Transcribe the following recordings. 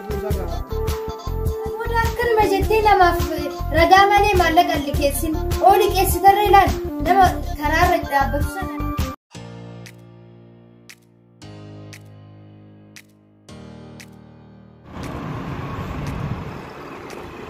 Booda akkanuma jettee namaaf ragaa malee maallaqa hin liqeessin. Oo liqeessitarra ilaal nama karaarra dhaabbatu sana.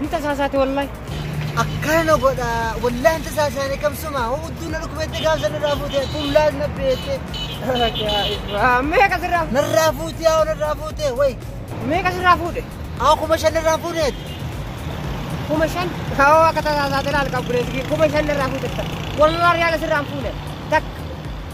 Ni tasaasaate wallahi. Akkana na godha wallahi hin tasaasaane kamsuma hudduu na dhukkubeette gaafsa narraa fuute fuullaas na beette. Meeqa sirraa fuudhe? Narraa fuute yaa narraa fuute way. Meeqa sirraa fuudhe? Haa kuma shan narraa fuudheet. Kuma shan? Kaawoo akka tasaasaate laal qabbureessi kuma shan narraa fuudhe. Wallahi yaala sirraa hin fuune. Takka.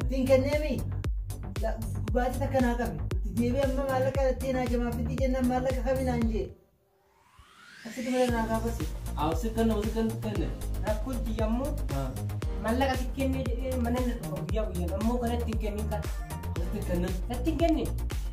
Ittiin kenneemi baasii takka naa qabe. Itti deebi'ee amma maallaqa ittiin haajamaaf itti jennaan maallaqa kami naan jee. Asitti malee naa gaafasi. Awwasiif kan nama kan kenne. Rakkoo itti yammu maallaqa si kennee jedhee mana na dhufa guyyaa guyyaan ammoo kanatti hin kennin kan. Asitti kenne. Natti hin kennin.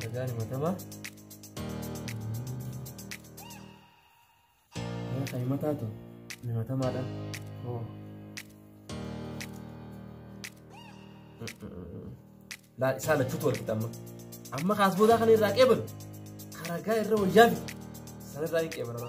Dhagaan himatabaa. Yaa kan himataa tu himatamaadha. Oo. Laal isaa lachuutu wal qixamma. Amma kaas boodaa kana irraa qeebalu. Karagaa irra wayyaa fi sanarraa hin qeebalama.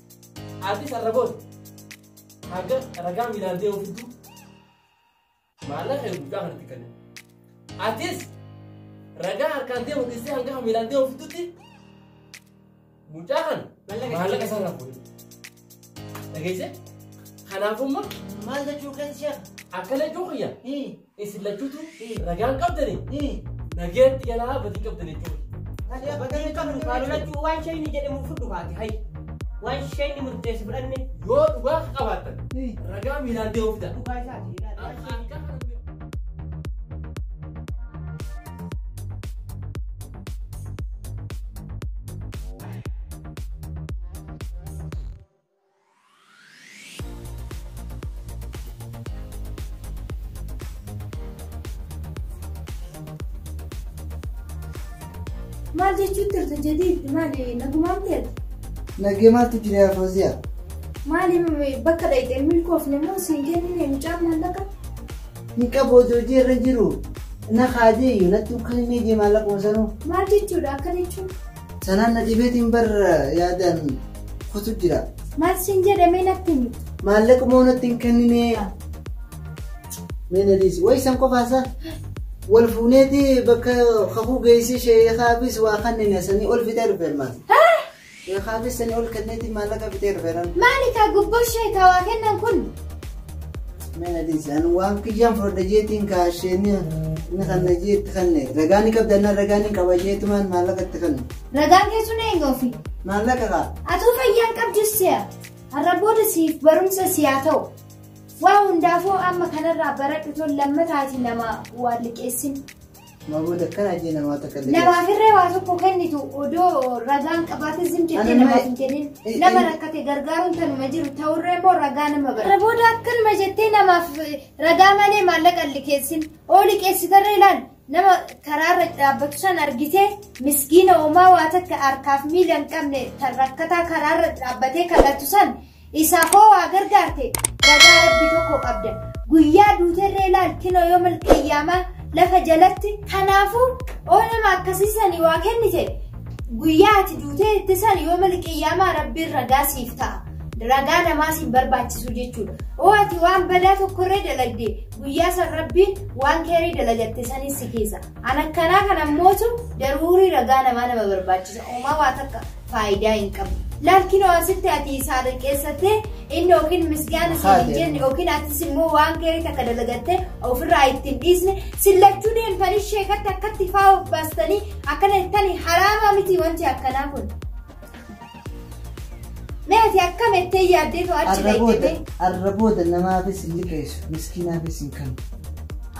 Atis arraboon haga ragaa miilaan deemu fidduu maallaqa kee guddaa kanatti kenna. Atis ragaa harkaan deemu dhiisee hanga kan miilaan deemu fiddutti mucaa kana Maallaqa maallaqa isaa irraa fuudhe. Dhageessee? Kanaafuu immoo maal jechuu kan ishee akkana jechuu kiyya hii Isin lachuutu ragaan qabdani nageetti galaa badii qabdani jechuudha. Talee badii qabdu kaa lolachuu waan shayni jedhamu fudhu kaati hay. Waan shayni murteessi fudhanne. Yoo dhugaa qabaatan ragaa miilaan deemu fida. Dhugaa isaati ilaali. Waan shayni jedhamu. Maal jechuun turte jadiid maali nagumaan ta'eef? Nagee maaltu jira yaa Fooziyaa? Maali bakka dhayxee milkoofne moo siin kennine mucaan maallaqa? Ni qabu hojii hojii irra jiru. Na kaajee iyyuu natti ukkalimee jee maallaqa osanuu. Maal jechuudha akka jechuun? Sanaan na dhibeetiin bar yaadaan kutu jira. Maal siin jedhe mee natti himi. Maallaqa moo natti hin kenninee. Mee na dhiisi. Wayi san qofaasaa. Wal fuuneeti bakka kakuu geessee sheekaafis waa kanneen sanii ol fitee dhufeera maal. Sheekaafis sanii ol kenneeti maallaqa fitee dhufeera. Maali kaa gubboo sheekaa waa kennan kun? Meenadiis ani waan kiyyaan fudhadha jeetiin kaa isheenni inni kanna jeetti kanne ragaa ni qabda annaan ragaa ni qaba jeetumaan maallaqa itti kanne Ragaan kee sun eenyu ofi? maallaqa kaa Atuu fayyaan qabdus si'a. Har'a booda siif barumsa siyaa ta'u. Waa hundaafuu amma kanarraa baradhu tol lammataatii nama waa liqeessin. Maaboon akkana ajee namaa takka illee. Namaa firree waa tokko kennitu odoo ragaan qabaate zim jettee Anamma- namaaf hin kennin. Eh, Nama eh. rakkate gargaaruun tanuma jiru ta'urree immoo ragaa nama bara. Booda akkanuma jettee namaaf eh, ragaa malee maallaqa hin liqeessin. Oo liqeessitarree ilaal nama karaarra dhaabbatu san argitee miskiina homaa waa takka harkaaf miila hin qabne tan rakkataa karaarra dhaabbatee kadhatu san Isaa koo waa gargaarte ragaa rabbi tokko qabda guyyaa duuterree laal kinoo yoo malkayyaamaa lafa jalatti kanaafuu oo nama akkasii sanii waa kennite guyyaa ati duutee itti san yoo malkayyaamaa rabbiin ragaa siif ta'a ragaa namaa siin barbaachisu jechuudha oo ati waan badaa tokkorree dalagde guyyaa san rabbiin waan keerii dalagatte sanis si keessa an akkanaa kana mootu daruurii ragaa namaa nama barbaachisa uumaa waa takka faayidaa hin qabu. Laal kinoo asitti ati isaa xiqqeessattee inni yookiin misgaana siin hin jenne yookiin atis immoo waan gaarii takka dalagattee ofirraa ittiin dhiisne sillachuu deemtanii sheekatti akkatti faa of baastanii akkana jettanii haraamaa miti wanti akkanaa kun. Mee ati akkam ettee yaaddee too achi dhayyitee? Arrabooda namaafis hin liqeessu miskiinaafis hin kennu.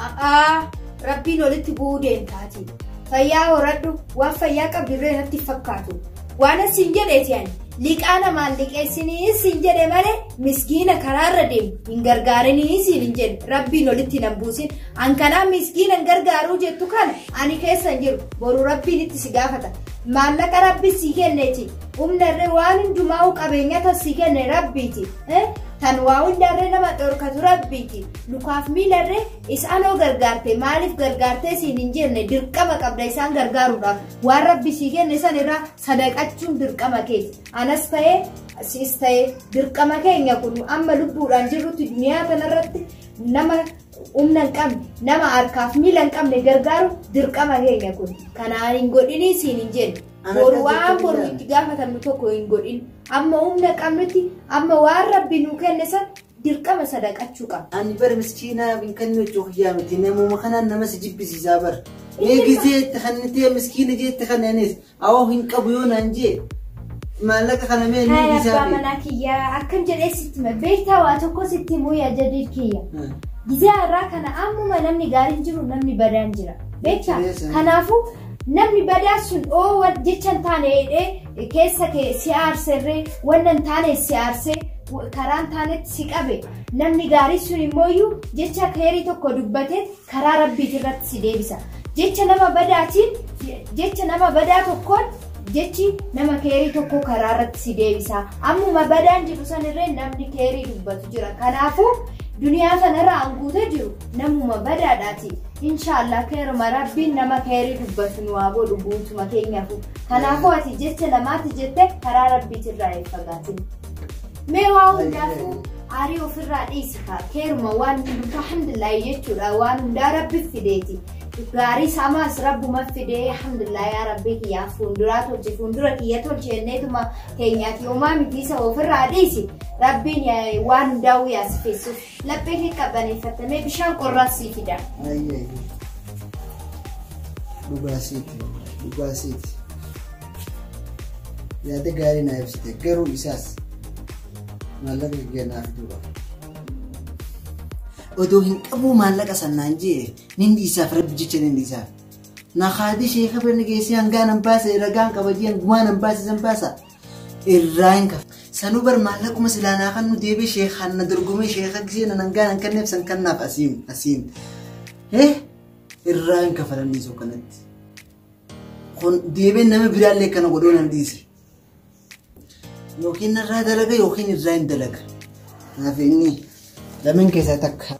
A'aa. Rabbiin olitti bu'uu deemtaati. Fayyaa horadhu waan fayyaa qabdu illee natti hin fakkaatu. Waanan siin jedheeti ani liqaa namaan liqeessinii siin jedhe malee miskiina karaarra deemu hin gargaarinii siin hin jedhe rabbiin olitti nan buusin an kanaa miskiina hin gargaaruu jettu kana ani keessa hin jiru boru rabbiin itti si gaafata maallaqa rabbi sii kenneeti humna irree waan hundumaa qabeenyaa tan sii kenne rabbiiti eh? tan waa hundaarree nama dhorkatu rabbiiti lukaaf miilarree Isaan hoo gargaarte maaliif gargaartee siin hin jenne dirqama qabda isaan gargaaruudhaaf waan rabbi sii kenne san irraa sadaqachuun dirqama keeti anas ta'ee siis ta'ee dirqama keenya kun amma lubbuudhaan jirrutti duniyaa kanarratti nama humna hin qabne nama harkaaf miila hin qabne gargaaru dirqama keenya kun kanaan hin godhinii siin hin jenne boru waan boru itti gaafatamnu tokko hin godhin amma humna qabnutti amma waan rabbi nuu kenne san Dirqama sadaqachuu qabda. Ani bar miskiinaa hin kannuu jechuu kiyyaa miti namuma kanaan nama si jibbisiisaa bar. Mee gizee itti kannitee miskiina jee itti kanne anis awoo hin qabu yoo naan jee maallaqa kana mee ni Haa abbaa dhiisaa fi. manaa kiyya akkam jedhee sitti hima. Beektaa waa tokko sitti himuu yaa jadiid kiyya. Gizee irraa kana ammuma namni gaariin jiru namni badaan jira. Beektaa? Jechuudha. Kanaafuu namni badaa sun oo wal jecha hin taane hidhee keessa kee si aarserree wanna hin taane si aarse karaa hin taanetti si qabe namni gaarii sun immoo iyyuu jecha keerii tokko dubbate karaa rabbiiti irratti si deebisa jecha nama badaatiin jecha nama badaa tokkoon jechi nama keerii tokko karaa irratti si deebisa ammuma badaan jiru sanirree namni keerii dubbatu jira kanaafuu duniyaa kanarra anguuta jiru namuma badaadhaati inshaallah keeruma rabbiin nama keerii dubbatu nu haa godhu guutuma keenyafu Kanaafuu ati jecha lamaatti jette karaa rabbiitirraa hin fagaatin. Mee waa hundaafuu aarii ofirraa dhiisi kaa keeruma waan hundumtu alhamdulillah jechuudha waan hundaa rabbi fideeti. Gaarii samaas rabbuma fidee alhamdulillah yaa rabbii kiyyaa fuulduraa tolche fuuldura kiyya tolche jenneetuma keenyaati homaa mitiisa ofirraa dhiisi. Rabbiin yaa- waan hundaa'uu yaasifeessuuf. Laphee kee qabbaneeffattamee bishaan qorraas sii fida. Ayyi ayyi. Dhugaa siiti. Dhugaa siiti. Yaada gaarii naa ibsite garuu isaas maallaqa kiyya naaf duuba. Odoo hin qabuu maallaqa sannaan jee nin dhiisaaf rabbi jecha nin dhiisaaf. Na haadhi sheeka birni geessee hangaan hin baase ragaan qaba jeen gumaan hin baase san baasa. irraa hin kafa. Sanuu bar maallaquma silaa naa kan nu deebi'e sheekaan na dorgomee sheekaa gisee na nangaa nan kenneef san kannaaf asiin asiin. Hee irraa hin kafalamni soo kanatti. Kun deebiin nama biraallee kana godhuu nan dhiise. Yookiin narraa dalaga yookiin irraa hin dalaga. Naaf inni lameen keessaa takka.